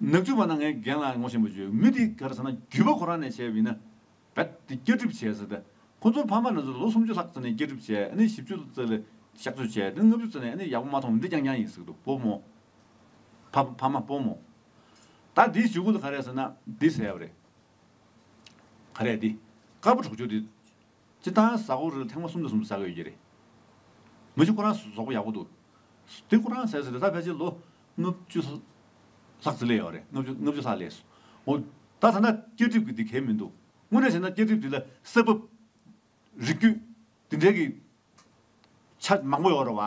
ནག་ཆུ་བ་ན་ངའི་རྒན་ལགས་ངོ་ཤེས་པོ་བྱོས་མི་དེ་ག་རེ་ཟེར་ན་རྒྱུད་པ་ཁོ་རང་ནས་བྱས་པ་ཡིན་ན་ག་དེ་སྐྱ་སྒྲིབ་བྱས་ཟེར་ད་ཁོ་ཚོ་ཕ་མ་རེ་ཟུང་ལོ་སུམ་ཅུ་ལྷག་ཙི་ནས་སྐྱ་སྒྲིབ་བྱས་ཨ་ནི་བཞི་བཅུ་ཙི་ལ་གཤག་བཅོས་བྱས་དེ་ལ་ལྔ་བཅུ་ཙི་ནས་ཨ་ནི་ཡག་པོ་མ་མཐོང་བ་འདི་རྐྱང་རྐྱང་ཡིན་ཟེར་དུ་བུ་མོ་ཕ་ཕ་མ་བུ་མོ་ད་དེའི་ཞུ་གུ་ལ་ག་རེ་ཟེར་ན་འདི་ཟེར་བ་རེད་ག་རེ་འདི་དཀར་པོ་གྲོགས་ཆོས་འདི། སྤྱི་བཏང་བཟའ་ཁོ་རིལ་ཐེངས་མ་གསུམ་དུ་གསུམ་བཟའ་དགོས་ཀྱི་རེད། མི་ཆུ་ཁོ་རང་ཟོག་པོ་ཡག་པོ་འདུག། དེ་ཁོ་རང་ཟས་ཟོས་དེ་ད་ཕལ་ཆེར་ལོ་ལྔ་བཅུ་ལྷག་ཙི་ལས་ཡོད་རེད་ལྔ་བཅུ་ལྷག་ལས་སོ། འོ། ད་ད་ནས་སྐྱེ་གྲིབ་ཀྱི་དེ་གལ་མི་འདུག་དངོས་གནས་བྱས་ན་སྐྱེ་གྲིབ་དེ་ལ་ས་བབ། རིགས་རྒྱུད། དེ་འདྲའི་གི། ཆ་མང་པོ་ཡོད་རེད་བ།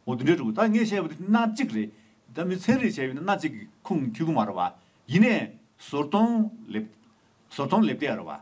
འོ་དེ་འདྲའི་འདུག་ད་ངས་བཤད་པ་དེ་སྣ་གཅིག་རེད། ད་མི་ཚན་རེ་བྱས་ཡོད་ན་སྣ་གཅིག་གི་ཁུངས་འཁྱུད་གི་མ་རེད་བ། ཡིན་ནས་ཟོར་གདོང་ལེབ། ཟོར་གདོང་ལེབ་སྟེགས་རེད་བ།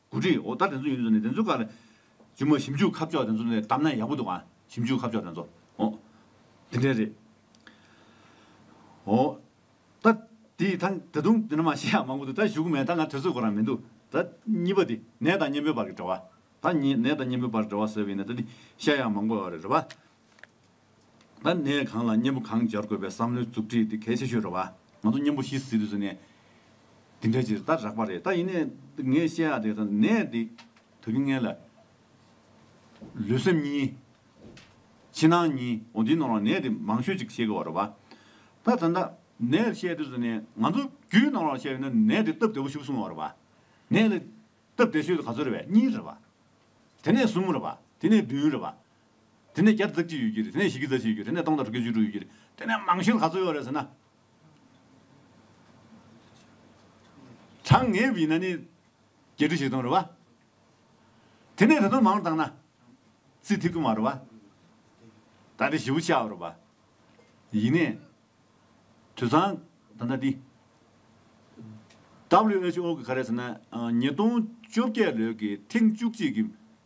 གོ་སྒྲིག་འོག་ད་དེ་ཚོ་ཡིན་ཚོ་ནས་དེ་ཚོ་ག་ལ་ཇི་མོ་ཞིབ་འཇུག་ཁ་ཕྱོགས་དེ་ཚོ་ནས་བཏབ་ན་ཡག་པོ་འདུག་ཨ་ཞིབ་འཇུག་ཁ་ཕྱོགས་དེ་ཚོ་ཨོ་དེ་འདྲས་རེད་ཨོ། ད་དེ་ད་ད་དུང་དེ་འདྲ་མ་ཤེས་ཡག་མང་པོ་འདུག་ད་བཞུགས་གོ་མེད་ད་ང་དེ་ཚོ་གོ་རང་མི་འདུག་ད་གཉིས་པ་དེ་ནད་དང་གཉེན་པོའི་བར་གྱི་འབྲེལ་བ་ད་ནད་དང་གཉེན་པོའི་བར་འབྲེལ་བ་ཟེར་བ་ཡིན་ན་ད་དེ་ཤེས་ཡག་མང་པོ་ཡོད་རེད་རེད་པ། ད་ནས་གང་ལ་མཉེན་པོ་གང་སྦྱར་དགོས་པའི་བསམ་བློའི་མཛུབ་ཁྲིད་དེ་གལ་ཆེ་ཤོས་རེད་བ། ང་ཚོ་མཉེན་པོ་ཤི་ཟིན་དུས་ཟེར་ནས་འདི་འདྲ་ཅིག་ད་རག་པ་རེད་ད་ཡིན་ནས་ངས་བཤད་ཨ་དེ་ད་ནས་འདི་ད་གིན་ངན་ལ། ལུས་སེམས་གཉིས། ཕྱི་ནང་གཉིས་འོ་འདི་ནང་ལ་ནས་འདི་མང་ཤོས་ཅིག་བཤད་དགོས་བ་རེད་བ། ད་ད་ནས་བཤད་དུས་ཟེར་ནས་ང་ཚོ་རྒྱུའི་ནང་ལ་བཤད་ཡོད་ན་ནས་འདི་སྟབས་བདེ་བོ་ཞུགས་སོང་བ་རེད་བ། ནས་ལ་སྟབས་བདེ་ཤོས་དེ་ག་ཚོད་རེད་བ་གཉིས་རེད་བ། དེ་ནས་གསུམ་རེད་བ་དེ་ནས་བདུན་རེད་བ། དེ་ནས་བརྒྱ་རྩ་གཅིག་ཡོད་ཀྱི་རེད། དེ་ནས་བཞི་བརྒྱ་རྩ་བཞི་ཡོད་ཀྱི་རེད། དེ་ནས་སྟོང་དང་དྲུག་བརྒྱ་བཅུ་དྲུག་ཡོད་ཀྱི་རེད། དེ་ནས་མང་ཤོས་ག་ཚོད་ཡོད་རེད་ཟེར་ན། གྲངས་ངེས་ཡིན་ན་ནི། བརྒྱད་ཁྲི་བཞི་སྟོང་རེད་བ། དེ་ནས་དེ་དང་མང་དྲགས་ན། རྩིས་ཐིག་དུ་མ་རེད་བ། ད་ལྟ་བཞི་བོ་ཆགས་ཡོད་རེད་བ། ཡིན་ནས། དུད་ཚང་ད་ལྟ་འདི། WHO གིས་ག་རེད་ཟེར་ན། ཉིས་སྟོང་བཅོ་བརྒྱད་ལོའི་གི་ཐེངས་བཅུ་གཅིག་གི།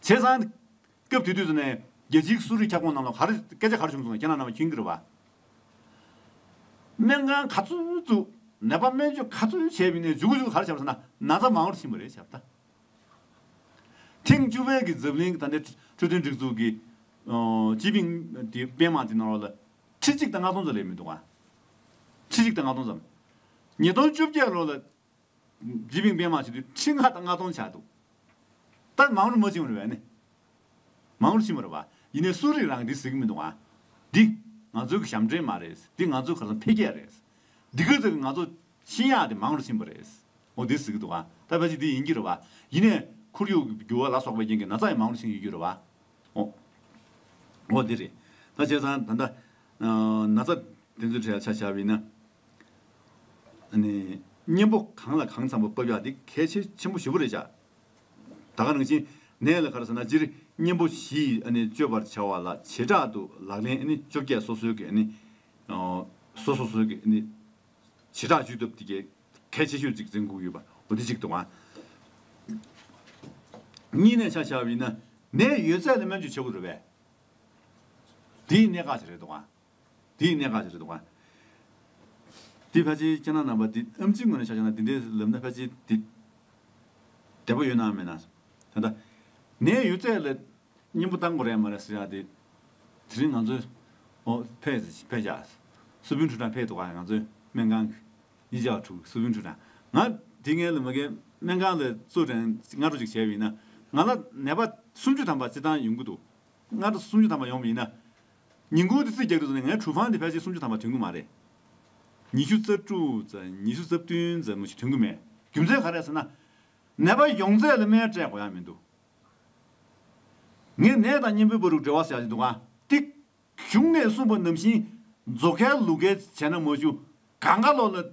ཚེས་གསང། སྐབས་དེ་དུས་སུ་ནས་རྒྱལ་སྤྱིའི་གསོ་རིག་ཁྱབ་ཁོངས་རྣམས་ལ་གར་སྐད་ཆ་གར་བྱུང་སོང་ཁྱེད་རྣམས་རྣམས་ཁྱིང་གིར་བ། སྨན་ཁང་ག་ཚོད་བཙུགས། ནད་པ་སྨན་བཅོས་ག་ཚོད་བྱས་བི་ནས་འཇུག་འཇུག་གར་བྱབ་ས་ན་ན་ཚ་མང་བོར་ཕྱིན་པ་རེད་བྱབ་ད། ཐེངས་བཅུ་བའི་གི་ཛབ་ལིང་གི་ད་ནས་འཕྲོད་བསྟེན་སྒྲིག་འཛུགས་ཀྱི་སྤྱི་པིང་དེ་པེན་མང་དེ་ནང་རོགས་ལ། ཁྲི་གཅིག་དང་ལྔ་སྟོང་ཙམ་ལས་མི་འདུག་ཨ། ཁྲི་གཅིག་དང་ལྔ་སྟོང་ཙམ། ཉིས་སྟོང་བཅོ་བརྒྱད་ལོ་ལ། རྗེ་བིང་པན་མ་ཞིག་དུས་ཁྲི་ལྔ་དང་ལྔ་སྟོང་ཆགས་འདུག། ད་མང་རུ་མ་ཕྱིན་བར་བས་ནི། མང་རུ་ཕྱིན་བར་བ། ཡིན་ནས་སུ་རིགས་རང་གིས་ཟིག་གི་མི་འདུག་ཨང། འདི། ང་ཚོའི་གི་ཞབས་འདྲེན་མ་རེད། འདི་ང་ཚོའི་ག་ཚང་འཕེལ་རྒྱས་རེད། འདི་གི་ཟིག་གི་ང་ཚོ། ཤིང་ཡག་དེ་མང་རུ་ཕྱིན་བར་རེད། འོ་དེ་ཟིག་གི་འདུག་ཨང། ད་བས་ཅི་འདི་ཡིན་གྱི་རུ་བ། ཡིན་ནས། ཁོར་ཡུག་གི་འགྱུར་བ་ལ་སོགས་པའི་རྐྱེན་གྱིས་ན་ཚ་ཡང་མང་རུ་ཕྱིན་ཡོད་གྱི་རུ་བ། འོ། འོ་དེ་རེད། ད་བྱས་ཙང་ད། ན་ཚ། དེ་ཚོའི་གྲས་ལ་ཆ་བཞག་བས་ན། གཉེན་པོ་གང་ལ་གང་འཚམ་པོ་བབས་ཡག་འདི་གལ་ཆེ་ཆེན་པོ་བཞི་པོ་རེད་བྱ། ད་ག་རང་བཞིན་ནས་ལ་ག་ར་ཟེར་ན་སྤྱིར་གཉེན་པོ་བཞི་སྤྱོད་པར་བྱ་བ་ལ་བྱེ་བྲག་ཏུ་ལག་ལེན་བཅོ་བརྒྱད་སོ་སོའི་གི་སོ་སོ་སོའི་གི་བྱེ་བྲག་ཇུས་སྟོབས་དེ་གལ་ཆེ་ཤོས་ཅིག་འཛིན་དགོས་ཡོད་པ་འོ་དེ་གཅིག་དང། གཉིས་ནས་ཆ་བྱ་བ་ཡིན་ན་ནས་ཡོད་ཚད་ལ་སྨན་བཅོས་བྱེད་དགོས་རེད་པས། དེའི་གནད་འགག་ཅིག་རེད་དང། དེ་ཡི་གནད་འགག་ཅིག་རེད་དོ། དེ་ཕལ་ཆེར་སྤྱིར་ན་རྣམ་པ་འདི་ཨམ་གཅིག་ངོས་ནས་བཤགས་ན་འདི་འདྲའི་ལབ་ན་ཕལ་ཆེར་དེ་འདྲ་པོ་ཡོད་ནའང་མེད་ནའང། ད་ལྟ་ངའི་ཡོད་ཚད་ལ་སྙིང་པོ་གཏང་དགོས་རེད་མ་རེད་ཟེར་ཡག་དེ་དེ་རིང་ང་ཚོས་ཨོ་བྷེ་བྷེ་བྱ། སུ་བྷིན་ཁྲུ་ཁྲ་བྷེ་ཏོ་ཁ་ཡང་ང་ཚོའི་སྨན་ཁང་གི་ཡི་ཇའོ་ཁྲུའུ་སུ་བྷིན་ཁྲུ་ཁྲ་ང་དེ་ངའི་ལ་མ་གའི་སྨན་ཁང་ལ་ཙུའུ་ཀྲན་སྔ་དྲོ་ཅིག་བྱས་པ་ཡིན་ན་ང་ལ་ནད་པ་སུམ་ཅུ་ཐམ་པ་སྤྱི་བཏང་ཡོང་གི་འདུག་སྔ་དྲོ་སུམ་ཅུ་ཐམ་པ་ཡོང་བ་ཡིན་ན་ཉིན་གུང་དུ་ཚིག་བརྒྱ་དྲུག་ཙམ་ནས་ངའི་གྲུ་ཕང་དེ་ཕལ་ཆེར་སུམ་ཅུ་ཐམ་པ་དོན་གྱི་མ་རེད། ཉི་ཤུ་རྩ་དྲུག་རྩ་ཉི་ཤུ་རྩ་བདུན་རྩ་མོ་ཞིག་དོན་གྱི་མེད། རྒྱུ་མཚན་ག་རེད་ཟེར་ན། ནད་པ་ཡོང་ཚད་ལ་སྨན་སྤྲད་དགོས་ཡ་མི་འདུག། ངས་ནད་དང་གཉེན་པོའི་བར་རུ་འབྲེལ་བ་ཟེར་ཡག་ཅི་འདུག་གང་ལྟིག། གཞུང་ནས་གསུངས་པ་ནམ་བཞིན། མཛོ་ཁལ་ལུག་ཁལ་བྱས་ན་མ་ཞུ། ག་འགའ་ལོག་ལ།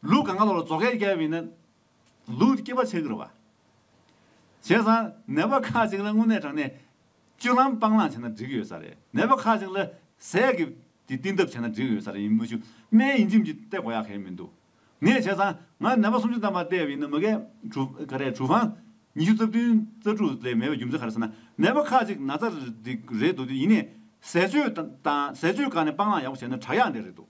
ལུག་གང་ག་ལོར་རྫོགས་སྐལ་བསྐྱལ་བས་ན། ལུག་སྐྱེས་པ་ཆེ་གི་རུ་བ། བྱས་ཙང་ནད་པ་ཁག་ཅིག་ལ་དངོས་གནས་དྲང་གནས། སྤྱོད་ལམ་སྤང་བླང་བྱས་ན་འགྲིག་ཡོད་ས་རེད་ནད་པ་ཁག་ཅིག་ལ། ཟས་ཀྱི་དེ་བསྟེན་ཐབས་བྱས་ན་འགྲིག་ཡོད་ས་རེད་ཡིན་མུ་ཆུ་སྨན་ཡིན་ཁྱིམ་གྱི་སྟེ་གོ་ཡག་གལ་མི་འདུག་ངས་བྱས་ཙང་ང་ནད་པ་སུམ་ཅུ་བདམས་པ་བལྟས་བས་ན་མི་གལ། ག་རེ་གྲུ་བྷང། ཉི་ཤུ་རྩ་བདུན་རྩ་དྲུག་ལས་མེད་པའི་རྒྱུ་མཚན་ག་རེ་ཟེར་ན་ནད་པ་ཁག་ཅིག་ན་ཚ་རེད་འདུག་ཡིན་ནས་ཟས་སྤྱོད་དང་ཟས་སྤྱོད་བཀག་ནས་སྤང་བླང་ཡག་པོ་བྱས་ན་དྲག་ཡག་འདི་རེད་འདུག་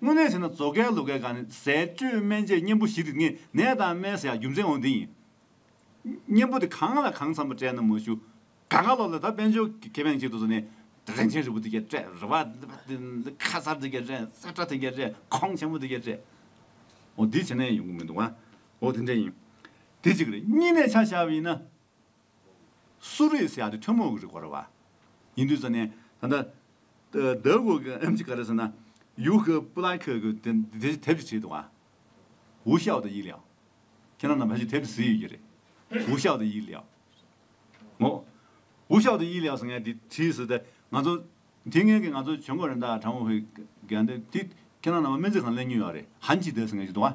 དངོས་གནས་བྱས་ན་མཛོ་སྐལ་ལུག་སྐལ་ག་ནི་ཟས་སྤྱོད་སྨན་དཔྱད་གཉེན་པོ་བཞི་དེ་ངས་ནད་དང་སྨན་ཟ་ཡག་རྒྱུ་མཚན་འོ་འདི་ཡིན། གཉེན་པོ་དེ་གང་ལ་གང་འཚམ་པོ་སྤྲད་ན་མ་ཞུ། ག་ག་ལོག་ལ་ད་དཔལ་འབྱོར་གྱི་ཁེ་ཕན་ཅིག་ཏུ་བཟོ་ནས། རིན་ཆེན་རི་བོ་འདི་སྐད་སྤྲད་རི་བ་འདི་ཁ་སར་འདི་སྐད་སྤྲད་སྲ་ཁྲ་དེ་སྐད་སྤྲད་ཁོང་ཆེན་པོ་འདི་སྐད་སྤྲད། འོ་འདི་བྱས་ན་ཡང་ཡོང་གི་མི་འདུག་ཨོ་དེ་འདྲས་ཡིན། དེ་གཅིག་རེད་གཉིས་ནས་ཆ་བཞག་པ་ཡིན་ན། སུ་རིས་ཡང་དེ་ཐུན་མོང་གི་རིགས་བར་བ་ཡིན་དུས་ཟེར་ནས། ད་ལྟ་འདི་གོ་གི་ཨེམ་ཅི་ག་རེད་ཟེར་ན། ཡུའུ་ཁི་པུ་ལ་ཁི་གི་དེ་དེབ་ཀྱི་བྲིས་འདུག་ཨ། ཝུའུ་ཤའོ་དང་ཡི་ལིའོ། ཁྱེད་རང་རྣམས་ཧ་ཅིང་དེབ་བཟི་ཡོད་ཀྱི་རེད། ཝུའུ་ཤའོ་དང་ཡི་ལིའོ། ངོ། ཝུའུ་ཤའོ་དང་ཡི་ལིའོ་ཟེར་མཁན་དེ་བྲིས་ཟེར་ཏེ་ང་ཚོ། དེ་སྔོན་གྱི་ང་ཚོ་ཇོ་མགོ་རེན་ཏཱ་ཁྲང་ཝུའུ་ཧུའེ། དེ་ཁྱེད་རང་རྣམས་སྨན་རྩིས་ཁང་གླེང་མྱོང་ཡོད་རེད། ཧན་གྱིས་དེ་ཟེར་མཁན་ཞིག་འདུག་ཨ།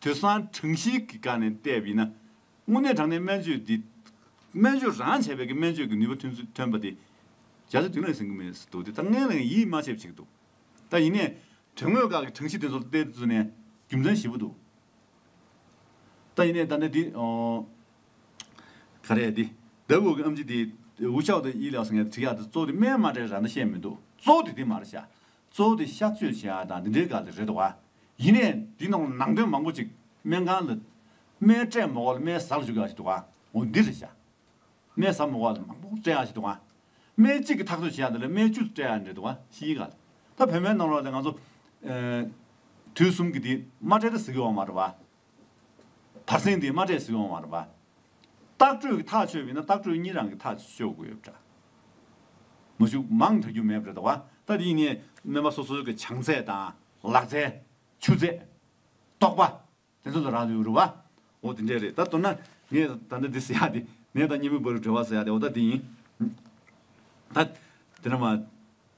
དུད་ཚང་གྲངས་བཤེར་གྱི་སྒང་ནས་བལྟས་པ་ཡིན་ན། དངོས་གནས་དྲང་གནས་སྨན་བཅོས་འདི། སྨན་བཅོས་རང་བྱས་པས་ཀྱི་སྨན་བཅོས་ཀྱི་ནུས་པ་ཐོན་ཚུལ་ཐོན་པ་དེ། རྒྱ་མཚོ་དེང་རབས་ཟིན་གྱི་མེད་སུ་འདུག་དེ་ད་སྔའི་ལ་ཡང་ཡིད་མ་ཆེས་པ་ཞིག་འདུག་ད་ཡིན་ནས། དོན་དངོས་སྐབས་ཀྱི་གྲངས་བཤེར་དེ་ཚོར་བལྟས་ཚུལ་ནས་རྒྱུ་མཚན་ཞིབ་པོ་འདུག་ད་ཡིན་ནས་ད་ནི་འདི། ག་རེད་འདི་ལྡབ་འོག་གི་ཨམ་ཆི་དེ། ཝུ་ཤའོ་ཏི་ཡིས་ལགས་སོ་ངས་དྲི་ཡག་འདི་གཙོ་བོ་དེ་སྨན་མ་དྲའི་ར་མདའ་བཤད་མི་འདུག་གཙོ་བོ་དེ་དེ་མ་རེད་བྱ། གཙོ་བོ་དེ་གཤགས་བཅོས་བྱས་ཡ་དང་འདི་འདྲའི་ག་ལ་རེད་བ། ཡིན་ནས་འདི་ནང་ལ་ནང་དོན་མང་པོ་ཅིག་སྨན་ཁང་ལ། སྨན་སྤྲད་མོག་ལ་སྨན་བཟའ་ལ་བཅུག་ཡ་ཞིག་འདུག་བ། འོ་འདི་རེད་བྱ། སྨན་བཟའ་མོག་ལ་མང་པོ་སྤྲད་ཡ་ཞིག་འདུག་བ། སྨན་གཅིག་གི་ཐག་གཅོད་བྱས་ཡ་འདི་ལ་སྨན་བཅུ་སྤྲད་ཡ་འདྲེ་འདུག་བ་ཞིག་ཡིན་ག་ལ། ད་བོད་སྨན་ནང་ལ་ལ་ང་ཚོ། དུས་གསུམ་གྱི་དེ་མ་སྤྲད་ད་ཟི་གི་བ་མ་རེད་བ། བར་སེང་དེའི་མ་འདྲེས་སུ་ཡོང་བར་བསྟག་འགྲོས་ཀྱི་ཐག་ཆོད་པས་ན་བརྟག་འགྲོས་གཉིས་རང་གི་ཐག་གཅོད་དགོས་པ་འདྲ། མུ་བཞུགས་མང་དྲག་རྒྱུ་མེད་པ་རེད་དོ། ད་དེ་ནི་སྨན་པ་སོ་སོའི་གི་བྱང་ཚད་དང་ལག་རྩལ། ཆུ་ཚད། རྟོགས་པ། དེ་ཚོ་ལ་རག་ལུས་རུ་བ། འོ་དེ་འདྲས་རེད་ད་མདོར་ན་ངས་ད་ལྟ་འདི་ཟེར་ཡག་དེ་ངས་ད་གཉིས་པོའི་བར་རུ་འབྲེལ་བ་ཟེར་ཡག་དེ་འོ་ད་དེ་ཡིན། ད་དེ་འདྲ་མ།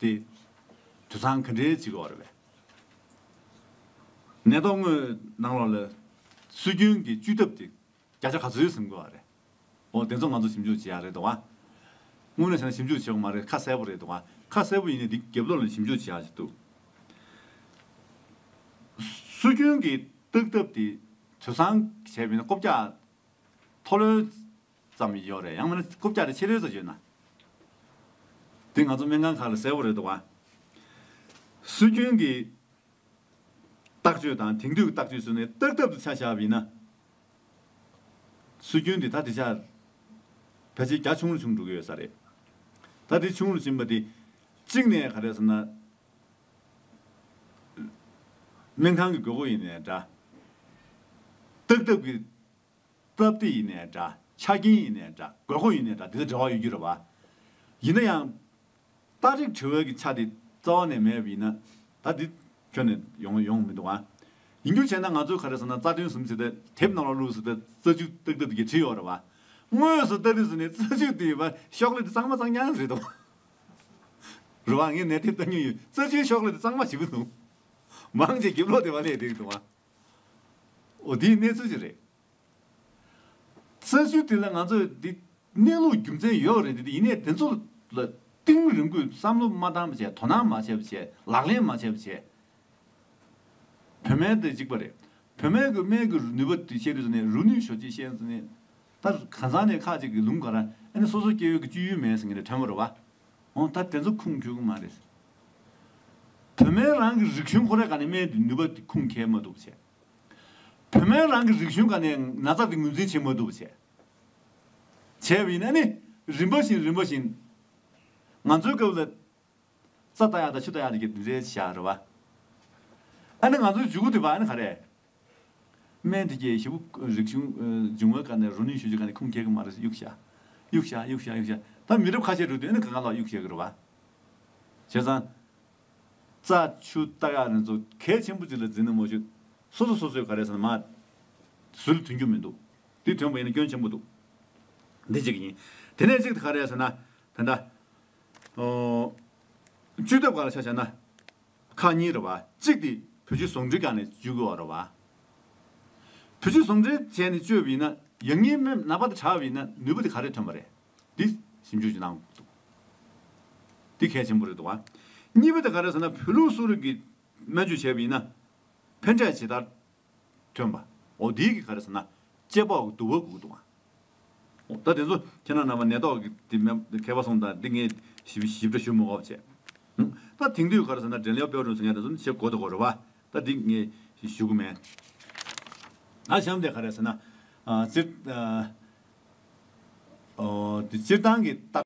ཏེ། དུད་ཚང་ག་འདྲའི་བྱིས་པ་བར་བའི། ནད་ཐོག་སྔོན་ནང་ལོག་ལ། སྲོལ་རྒྱུན་གྱི་བཅོས་ཐབས་དེ། བརྒྱ་ཆ་ག་ཚོད་ཟིན་དགོས་བ་རེད། འོ་དེ་ཚོ་ང་ཚོ་ཞིབ་འཇུག་བྱེད་ཡག་རེད་འདུག་བ། དངོས་གནས་བྱས་ན་ཞིབ་འཇུག་བྱེད་དགོས་མ་རེད་ཁ་གསལ་པོ་རེད་འདུག་བ། ཁ་གསལ་པོ་ཡིན་ནའི་འདི་རྒྱབ་ལོག་ལ་ཞིབ་འཇུག་བྱེད་ཡག་ཅིག་འདུག། སྲོལ་རྒྱུན་གྱི་བརྟག་ཐབས་དེ། དུད་ཚང་བྱས་པས་ན་རྐོ་བརྒྱག། ཐོ་ལོན། ཙམ་ཡོད་རེད་ཡང་མིན་ན་རྐུབ་བཀྱག་རེ་ཕྱི་རོལ་དུ་བྱོས་ན། དེ་ང་ཚོ་སྨན་ཁང་ཁག་ལ་གསལ་བོ་རེད་འདུག་བ། སྲོལ་རྒྱུན་གྱི་བརྟག་བཅོས་དང་དེང་དུས་ཀྱི་བརྟག་བཅོས་སུ་ནས་བརྟག་ཐབས་དུ་ཆ་བཞག་པ་ཡིན་ན། སྲོལ་རྒྱུན་དེ་ད་དེ་ཆ་ཕལ་ཆེར་གྱ་ཆུང་རུ་ཆུང་འགྲོ་གི་ཡོད་ས་རེད། ད་དེ་ཆུང་རུ་ཕྱིན་པ་དེ་གཅིག་ནས་ག་རེད་ཟེར་ན། སྨན་ཁང་གི་དགོས་མཁོ་ཡིན་ནའི་འདྲ། བརྟག་ཐབས་ཀྱི། སྟབས་བདེ་ཡིན་ནས་འདྲ། ཆ་རྐྱེན་ཡིན་ནས་འདྲ། དགོས་མཁོ་ཡིན་ནས་འདྲ་དེ་ལ་འབྲེལ་བ་ཡོད་རྒྱུ་རེད་བ། ཡིན་ན་ཡང། སྟག་རིག་བྲི་འོས་ཀྱི་ཆ་དེ་རྩ་བ་ནས་མེད་པ་ཡིན་ན། ད་འདི་ཁྱོན་ནས་ཡོང་ཡོང་མི་འདུག་བ། ཡིན་རྒྱུ་བྱས་ན་ང་ཚོས་ག་རེ་ཟེར་ན་རྩ་དོན་ཟིན་ཟིན་ཏེ་དེབ་ནང་ལ་བླུགས་ཟིན་ཏེ་རྩ་ཆུ་ཏིག་ཏིག་གིས་བྲིས་ཡོད་རེད་བ། དངོས་སུ་ལྟ་རིས་ཟིན་ནས་རྩ་ཆུ་དེའི་བར་ཤོག་ལྷེ་དེ་གཙང་མ་གཙང་ཉག་རེད་འདུག་རེད་བ། ངས་ནས་དེབ་ལྟ་མྱོང་ཡོད་རྩ་ཆུའི་ཤོག་ལྷེ་དེ་གཙང་མ་ཞིག་འདུག། མང་ཆེ་བརྒྱད་ལོ་དེ་བ་ལས་དེ་རེད་འདུག་བ། འོ་དེའི་གནས་ཚུལ་ཅི་རེད། བཙན་བྱོལ་དེ་ལ་ང་ཚོས་འདི་གནས་ལུགས་རྒྱུ་མཚན་ཡོད་རེད་འདི་ཡིན་ནས་དེ་ཚོ་ལ་གཏིང་རིང་པོས་བསམ་བློ་མ་བཏང་བྱས་དོ་སྣང་མ་བྱས་བྱས་ལག་ལེན་མ་བྱས་བྱས། བོད་སྨན་དེ་འཇིག་པ་རེད་བོད་སྨན་གྱི་སྨན་གྱི་ནུས་པ་དེ་བཤད་དུས་ནས་རུ་ནུས་ཞོ་ཅེས་བཤད་ནས་ད་གང་ཟང་ནས་ཁག་ཅིག་གིས་ལུང་ག་ར་ཨེ་ནས་སོ་སོ་སྐྱེ་ཡུལ་གྱི་སྤྱོད་ཡུལ་མེད་ཟེར་ངེས་ནས་དོན་མོ་རེད་བ། འོང་ད་དེ་ཚོ་ཁུངས་འཁྱོལ་གི་མ་རེད། བོད་མའི་རང་གི་རིག་གཞུང་ཁོ་རེ་ག་ནས་སྨན་དེ་ནུས་པ་དེ་ཁུངས་འཁྱལ་མ་འདུག་བྱས། བོད་མའི་རང་གི་རིག་གཞུང་ག་ནས་ན་ཚ་དེ་ངོས་འཛིན་བྱེད་མ་འདུག་བྱས། བྱས་པ་ཡིན་ན་ནི་རིམ་པ་བཞིན་རིམ་པ་བཞིན། ང་ཚོའི་སྐབས་ལ། རྩ་ལྟ་ཡག་དང་ཆུ་ལྟ་ཡག་དེ་ག་དེ་འདྲའི་བྱས་རེད་བ། ཨ་ནི་ང་ཚོའི་འཇུག་སྒོ་དེ་བ་ཨ་ནི་ག་རེད། སྨན་དེ་གྱིས་ཞེ་བོ་རིག་གཞུང་འབྱུང་བ་ཀ་ནས་རོ་ནུས་ཞུ་རྒྱུ་ཀ་ནས་ཁུངས་སྐྱེལ་གི་མ་རེད་གཡུག་བྱ། གཡུག་བྱ་གཡུག་བྱ་གཡུག་བྱ། ད་མི་རབས་ཁ་ཤས་འགྲོ་དུས་ཨེ་ན་ག་ག་ལགས་གཡུག་བྱེད་གི་རེད་བ། བྱས་ཙང། རྩ་ཆུ་རྟ་ག་རེ་ཚོ་གལ་ཆེན་པོ་ཅིག་ལ་འཛིན་ནི་མོ་ཤོད། སོ་སོ་སོ་སོས་ག་རེ་ཟེར་ན་མ། ཟོལ་དུན་རྒྱུ་མི་འདུག། དེ་དོན་པོ་ཡིན་ན་སྐྱོན་ཆེན་པོ་འདུག། འདི་གཅིག་ཡིན། དེ་ནས་གཅིག་ག་རེ་ཟེར་ན། དེ་འདྲ། བཅུད་ཐབས་ག་ལ་ཆ་བྱ་ན། ཁག་གཉིས་རེད་བ། གཅིག་དེ་བུ་ཆུ་ཟོང་འབྲི་ཁ་ནས་བཅུ་དགོས་བ་རེད་བ། བུ་ཆུ་ཟོང་འབྲི་བྱས་ནས་བཅོས་བས་ན་ཡ་ངའི་མེ་ན་བ་དེ་དྲག་བས་ན་ནུས་བ་དེ་ག་རེ་ཐོན་བ་རེད། དེ་ཞིབ་འཇུག་བྱེད་གནང་དགོས་འདུག། དེ་གལ་ཆེན་པོ་རེད་འདུག་བ། གཉིས་པ་དེ་ག་རེ་ཟེར་ན་བོད་ལུགས་གསོ་རིག་གི་སྨན་བཅོས་བྱས་བས་ན་ཕན་འབྲས་ཇི་ལྟར། ཐོན་པ། འོ་དེའི་གི་ག་རེ་ཟེར་ན། ལྕེ་པོག་གི་དུ་བ་གུག་དུ་འོང། ད་དེ་ཚོ་ཁྱེད་རང་རྣམས་པ་ནད་ཐོག་གི་དེ་མེད་མཁས་པ་སོང་དང་དེ་ངས་ཞིབ་ཞིབ་ཕྲ་ཞུ་མི་འོབ་བྱས། ད་དེང་དུས་ག་རེ་ཟེར་ན་དྲན་ལེའོ་པེའོ་ཀྲུང་ཟེར་མཁན་དེ་ཚོ་ནི་བྱེད་གོ་ཐོ་གོ་རེད་བ། ད་དེ་ངས་ཞུ་གི་མེད། ད་གཞམ་དེ་ག་རེ་ཟེར་ན། སྤྱིར་སྤྱིར་བཏང་གི་རྟགས།